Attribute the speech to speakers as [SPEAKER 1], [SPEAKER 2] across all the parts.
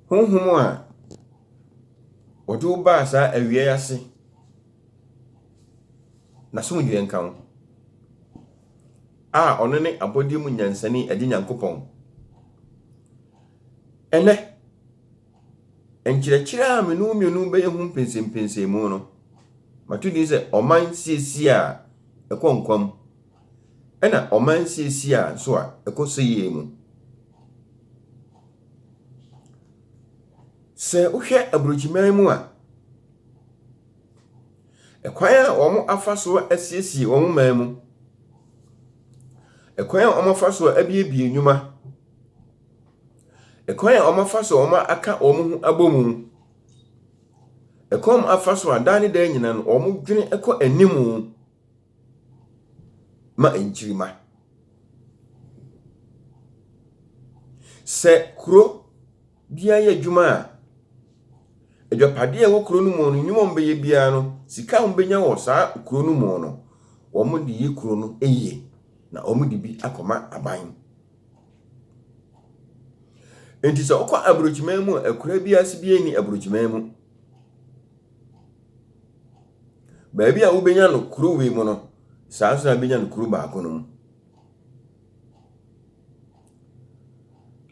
[SPEAKER 1] Honhom a wɔdze wo baa saa awia yi ase, n'asomdwee nka wo, a ɔno nye abɔdze mu nyansanyi Agye Nyankopɔn. Ndɛ, nkyerɛkyerɛ a menye wo mienu bɛyɛ ho mpɛnsɛmpɛnsɛmu no, mato dzin dɛ Ɔman Siesie a Ɛkɔ Nkwa Mu. Ɛna ɔman siesiaa nso a ɛkɔ so yie mu. Sɛ wohwɛ aburokyiman mu a, ɛkwan a wɔafa so asiesie wɔn man mu, ɛkwan a wɔafa so abuebue nnwuma, ɛkwan a wɔafa so aka wɔn ho abɔ mu, ɛkwan a wɔafa so a daa ne daa nyinaa no wɔdwene kɔ anim. ma nkyirimma. Sɛ kuro bi ayɛ adwuma a, adwapadeɛ a ɛwɔ kuro no mu no, nnwuma a wɔbɛyɛ biara no, sika a wɔbɛnya wɔ saa kuro no mu no, wɔde yɛ kuro no yie, na wɔde bi akɔma aban. Enti sɛ wokɔ aburokyiman mu a, akuraa bi ase biara nni aburokyiman mu. Baabi a wobenya no kurow yi mu no, saa ara nso na ebenya no kurow baako no mu.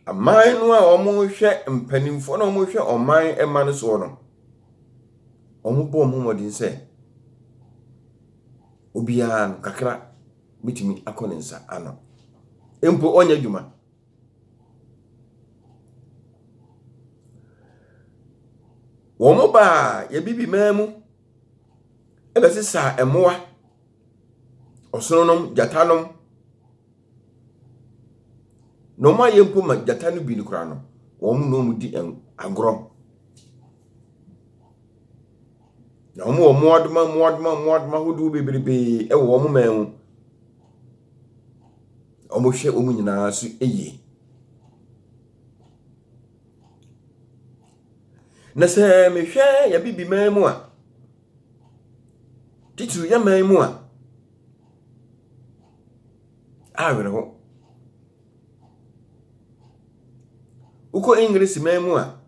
[SPEAKER 1] Aman no a wɔhwɛ mpanyimfo na wɔhwɛ ɔman mma no soɔ no, wɔbɔ wɔn ho mmɔden sɛ obiara no kakra betumi akɔ ne nsa ano. Mpo ɔnyɛ adwuma. Wɔbaa Abibiman mu bɛsesaa mmoa, ɔsononom, gyatanom, na wɔayɛ mpo ma gyata no bi koraa no, wɔne wɔn di agorɔ. Na wɔn wɔ mmoadoma mmoadoma mmoadoma ahodoɔ bebrebee wɔ wɔn man mu. Wɔhwɛ wɔn nyinaa so yie. Na sɛ mehwɛ yɛn bibi man mu a, titiriw yɛn man mu a, awerɛho. Wokɔ English man mu a,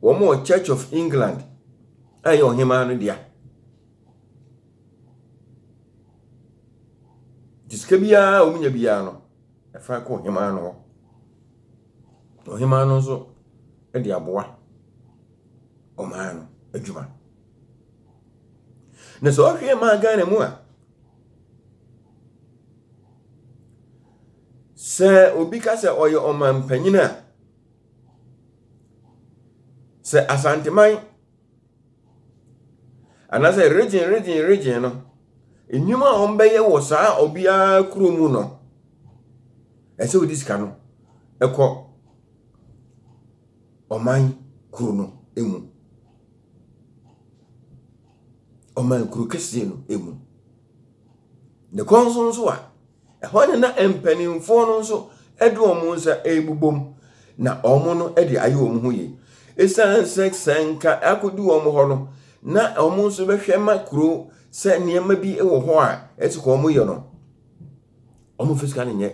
[SPEAKER 1] Wɔwɔ Church of England a ɛyɛ ɔhemaa no dea. Nti sika biara a wɔnya biara no, ɛfa kɔ ɔhemaa no hɔ. Ɔhemaa no nso de aboa ɔman no adwuma. Na sɛ ɔhwɛ maa Ghana mu a, sɛ obi ka sɛ ɔyɛ ɔmanpanyin a, Sɛ Asanteman anaasɛ regyen regyen regyen no, nnwuma a wɔbɛyɛ wɔ saa obiara kuro mu no, ɛsɛ wɔde sika no kɔ ɔman kuro no mu. Ɔman kuro kɛseɛ no mu. Ne kɔn so nso a, Ɛhɔ na na mpanimfoɔ no nso de wɔn nsa rebobom na wɔn no de ayɛ wɔn ho yie. Ɛsiane sɛ sɛ nka akɔdu wɔn hɔ no, na wɔn nso bɛhwɛ ma kuro sɛ nneɛma bi wɔ hɔ a ɛsɛ ka wɔn yɛ no, wɔn mfa sika no nyɛ.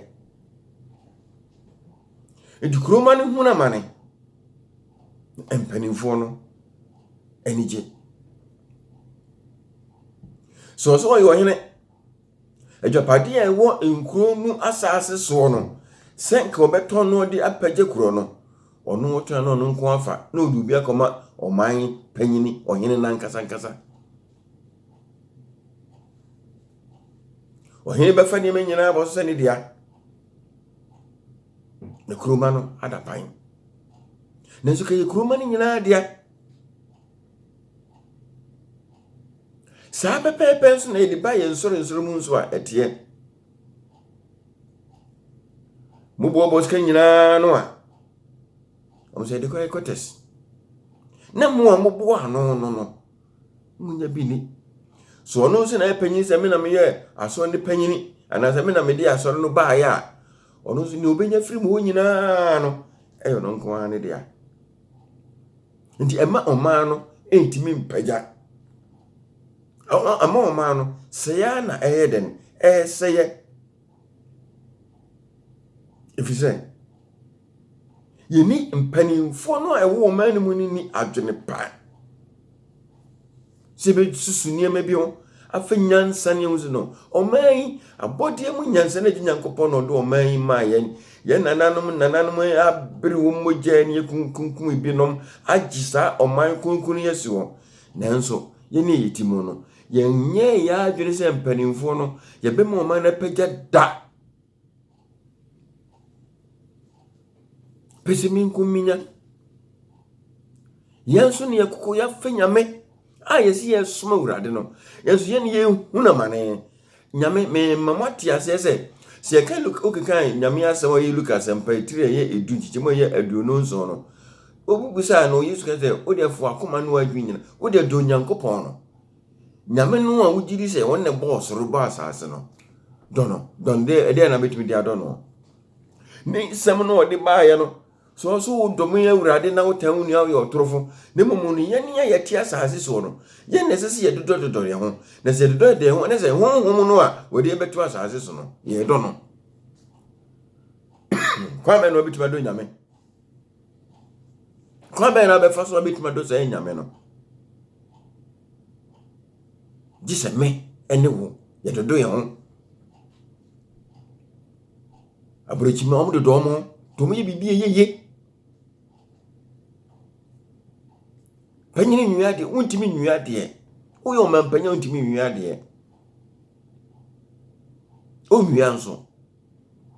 [SPEAKER 1] Nti kuroma no hunu amane, mpanimfoɔ no anigye. So ɔsɛ ɔyɛ ɔhene. Agyapadeɛ a ɛwɔ nkuro no asaase soɔ no, sɛ nka ɔbɛtɔn no de apɛgye korɔ no, ɔno ɔtɔn no ɔno nko afa na ɔde obi akɔma ɔman panyini, ɔhene no ankasa ankasa. Ɔhene bɛfa nneɛma nyinaa abɔ so sɛ ne dea. Na kuroma no ada pan. Nanso kɛyɛ kuroma no nyinaa dea. Saa pɛpɛɛpɛ nso na yɛde ba yɛn nsɔrensɔre mu nso a ɛteɛ. Moboaboa sika nyinaa no a, ɔmo sɛ yɛde kɔ headquarters. Na mo a moboa ano no no, monya bi ni. So ɔno nso na ɛpanyin sɛ me na meyɛ asɔre no panyin anaasɛ me na mede asɔre no baeɛ a, ɔno nso nea obenya firi mu hɔ nyinaa no ɛyɛ ɔno nko ara ne dea. nti ɛma ɔman no ntumi mpagya. Ɛma ɔman no sɛe ara na ɛyɛ dɛn? Ɛresɛe. Ɛfiri sɛ, yɛnni mpanimfoɔ no a ɛwɔ ɔman no mu no nni adwene pa. sɛ yɛbɛsusu nneɛma bi ho, afei nyansa ne ɛhu sɛ no, ɔman yi, abɔdeɛ mu nyansa no agye Nyankopɔn na ɔde ɔman yi maa yɛn. Yɛn nananom nananom abere wɔn mogya ne yɛkunkunkum ebinom agye saa ɔman kronkron yi asi hɔ. Nanso, yɛn a yɛti mu no, yɛnyɛɛ yɛn adwene sɛ mpanimfoɔ no, yɛbɛma ɔman no apagya da. Pese me nko minya. Yɛn nso ne yɛkoko yɛafɛ nyame a yɛsi yɛn som awurade no yɛn nso yɛn yɛn hu na ma ne nyame mɛma mo ate aseɛ sɛ sɛ yɛka luka okeka nyame asɛm a ɔyɛ luka asɛmpa etiri a ɛyɛ edu nkyekyɛm a ɛyɛ aduonu nson no obi bisaa no yesu ka sɛ wode afo akoma no adwi nyina wode adɔ onyankopɔn no Nyame no a wogye di sɛ ɔno na ɛbɔɔ ɔsoro bɔɔ asase no, dɔ no. Dɔ no dɛ ɛdeɛn na mɛtumi de adɔ no? Ne nsɛm no ɔde baeɛ no, sɛ ɔso wodɔ me awurade na wotaa wo nua woyɛ ɔtorofo, na mmom no yɛn a yɛte asase soɔ no, yɛn na ɛsɛ sɛ yɛdodɔdodɔ yɛn ho, na sɛ yɛdodɔ yɛn ho a, na sɛ honhom no a wɔde yɛn bɛto asase so no, yɛdɔ no. Kwan bɛn na wobɛtumi adɔ Nyame? Kwan bɛn na bɛfa so na bɛtumi adɔ saa anyame no? Gye sɛ me ne wo yɛdodo yɛn ho. Aburokyi ma wɔn dodo wɔn ho, nti wɔyɛ biribi a ɛyɛ yie. Panyin nwia adeɛ, wontumi nwia adeɛ. Woyɛ ɔmanpanyin a wontumi nwia adeɛ. Onwia nso.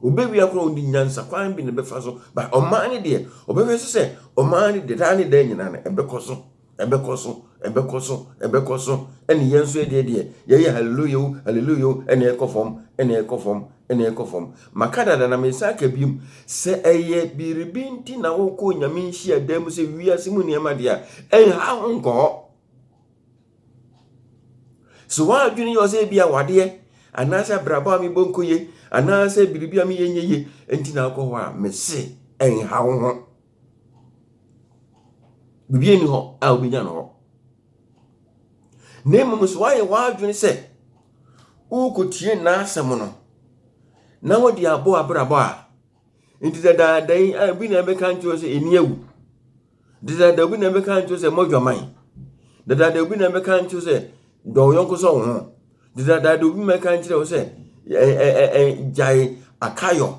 [SPEAKER 1] Obewia koraa ɔnni nyansa kwan bi na ɛbɛfa so but ɔman no deɛ ɔbɛhwɛ so sɛ ɔman no deɛ daa ne daa nyinaa no ɛbɛkɔ so ɛbɛkɔ so ɛbɛkɔ so ɛbɛkɔ so ɛne yɛn nso ɛdeɛ deɛ yɛyɛ hallelujah o hallelujah o ɛne ɛkɔ fam ɛne ɛkɔ fam ɛne ɛkɔ fam maka dada na mesan aka biom sɛ ɛyɛ biribi nti na wokɔ onyame nhyia dan mu sɛ wiase mu nneɛma deɛ a ɛnha ho nkɔ hɔ So w'adwene yɛ sɛ ebi awadeɛ anaasɛ abrabɔ a mebɔ nkɔ yie anaasɛ biribi a meyɛ nyɛ yie nti na akɔ hɔ a mese ɛnha wo ho biribi ani hɔ a wobɛnya no hɔ na mmom so woayɛ w'adwene sɛ worekɔtie n'asɛm no na wode abɔ abrabɔ a Nti dadaada yi a obi na ɛbɛka nkyerɛ sɛ ani awu. Dadaada obi na ɛbɛka nkyerɛ sɛ mɔdwaman. Dadaada obi na ɛbɛka nkyerɛ sɛ dɔ wo yɔnko sɛ wo ho. Dadaada obi na ɛka nkyerɛ wo sɛ gyae akayɔ.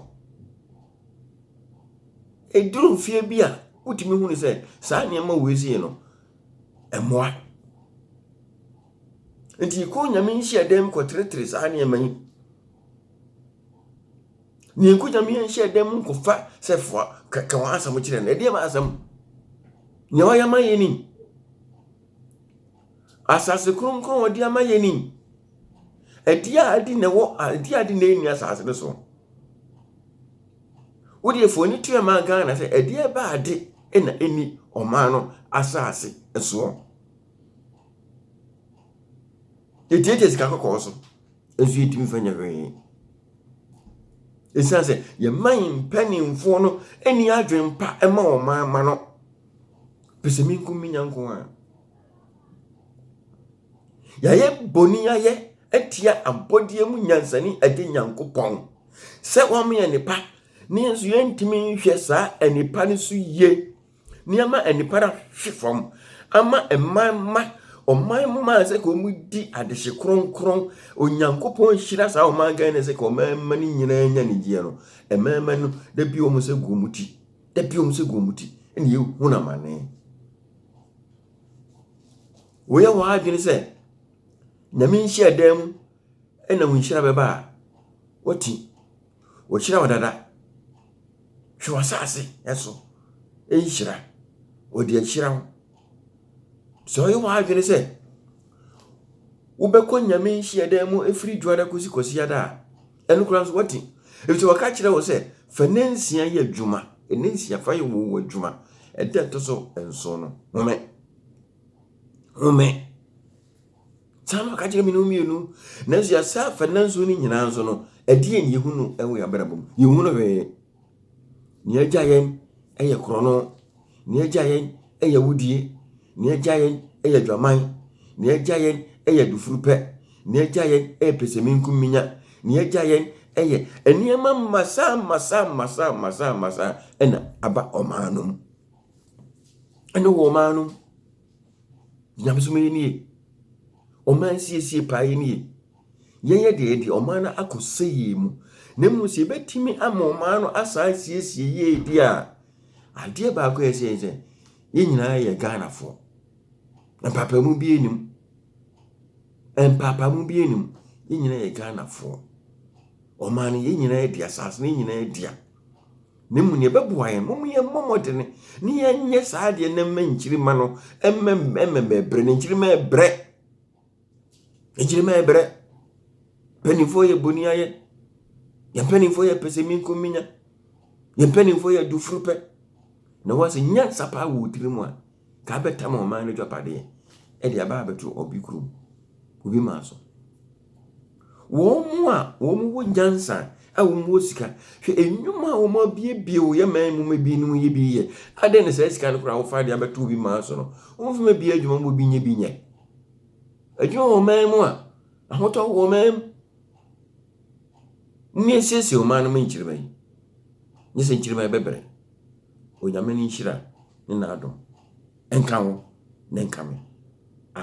[SPEAKER 1] Eduru mfie bi a wotumi hu ne sɛ saa nneɛma wei sei no ɛmmoa. Nti kɔ nyame nhyiadan mu kɔteretere saa nneɛma yi. Nea ɛnkɔ Nyame anhyɛ dan mu nkɔfa sɛfoa kɛkɛ wɔn asɛm kyerɛ no, ɛdeɛ ma asɛm. Nea ɔyɛ ma yɛ nim. Asase kronkron a ɔde ama yɛ nim. Ɛdeɛ a adi na ɛwɔ ɛdeɛ a adi na ɛnni asase no so. Wodeɛ fo ani tua ma Ghana sɛ ɛdeɛ ba ade na ɛnni ɔman no asase soɔ. Yɛtiatia sika kɔkɔɔ so. nso yɛtumi mfa nyɛ hwee. Ɛsiane sɛ yɛma yɛn mpanimfoɔ no ani adwene pa ma wɔn man ma no pɛ sɛ menko menya nko a. Yɛayɛ bɔne yɛayɛ atia abɔdeɛ mu nyansani agye Nyankopɔn sɛ wɔn yɛ nipa ne yɛn nso yɛntumi nhwɛ saa nipa no so yie nneɛma a nnipa no ahwe fam ama mman ma ɔman mmaa sɛ ka wɔn di adehye kronkron onyankopɔn nhyira saa ɔman ghana sɛ ka ɔman mma no nyinaa nya anigyeɛ no mmarima no da bi wɔn sɛ gu wɔn ti da bi wɔn sɛ gu wɔn ti ɛna yɛhu no amane woyɛ wɔn adwene sɛ nyame nhyia dan mu ɛna wo nhyira bɛba a wɔte Ɔhyira wo dada. Hwɛ w'asase so nhyira. Ɔde ahyira wo. Sɛ ɔyɛ w'adwene sɛ wobɛkɔ Nyame nhyiadan mu ɛfiri dwoada kɔsi kwasiada a, ɛno koraa nso wati. Ɛfisɛ wɔka kyerɛ wo sɛ fa nna nsia yɛ adwuma. Nna nsia fa yɛ wo adwuma. Ɛda ɛtɔ so nson no, home. Home. saa na ɔka kyerɛ me no mmienu nanso yɛasa afa nanso no nyinaa nso no ɛdeɛ ne yɛhu no ɛwɔ yɛn abrabɔ mu yɛhu no hwee nea agya yɛn ɛyɛ korɔno nea agya yɛn ɛyɛ wudie nea agya yɛn ɛyɛ adwaman nea agya yɛn ɛyɛ adufurupɛ nea agya yɛn ɛyɛ pɛsɛmenkuminya nea agya yɛn ɛyɛ nneɛma mmasa mmasa mmasa mmasa mmasa ɛna aba ɔman no mu ɛne wɔ ɔman no mu Nyamesom yɛ nie. Ɔman nsiesie paa yɛ nie. Yɛyɛ deɛ yɛde ɔman no akɔ sɛ yie mu. Na mmom sɛ yɛbɛtumi ama ɔman no asan siesie yie di a, adeɛ baako yɛ sɛ sɛ yɛn nyinaa yɛ Ghanafoɔ. Mpaapaemu bi anim. Mpaapaemu bi anim. Yɛn nyinaa yɛ Ghanafoɔ. Ɔman no yɛn nyinaa di, asase no yɛn nyinaa di a. Na mmom nea ɛbɛboa yɛn, mom yɛmmɔ mmɔden na yɛnyɛ saa adeɛ na mma nkyirimma no mmɛmɛbrɛ no nkyirimma ɛbrɛ nkyirimma ɛbrɛ mpanimfoɔ yɛ boni ayɛ yɛn mpanimfoɔ yɛ pɛsɛminkominya yɛn mpanimfoɔ yɛ adufuru pɛ na wɔn sɛ nyansa paa wɔ wo tirim a Ka abɛtam ɔman no agyapadeɛ de aba abɛto ɔbe kurom, kube mmaa so. Wɔn a wɔwɔ nyansa a wɔwɔ sika, hwɛ nnwuma a wɔabuebue wɔ yɛn man mu ma bi no yɛ bi yɛ. Adɛn na saa sika no koraa wofa de abɛto obi mmaa so no, wɔmfa ma bi adwuma ma obi nyɛ bi nyɛ. Adwuma wɔ ɔman mu a, ahotɔ wɔ ɔman mu. Mumiesie ɔman no ma nkyirimma yi, nyɛ sɛ nkyirimma yi bɛbrɛ. Onyame ne nhyira ne n'adom nka wo ne nka me. Amen.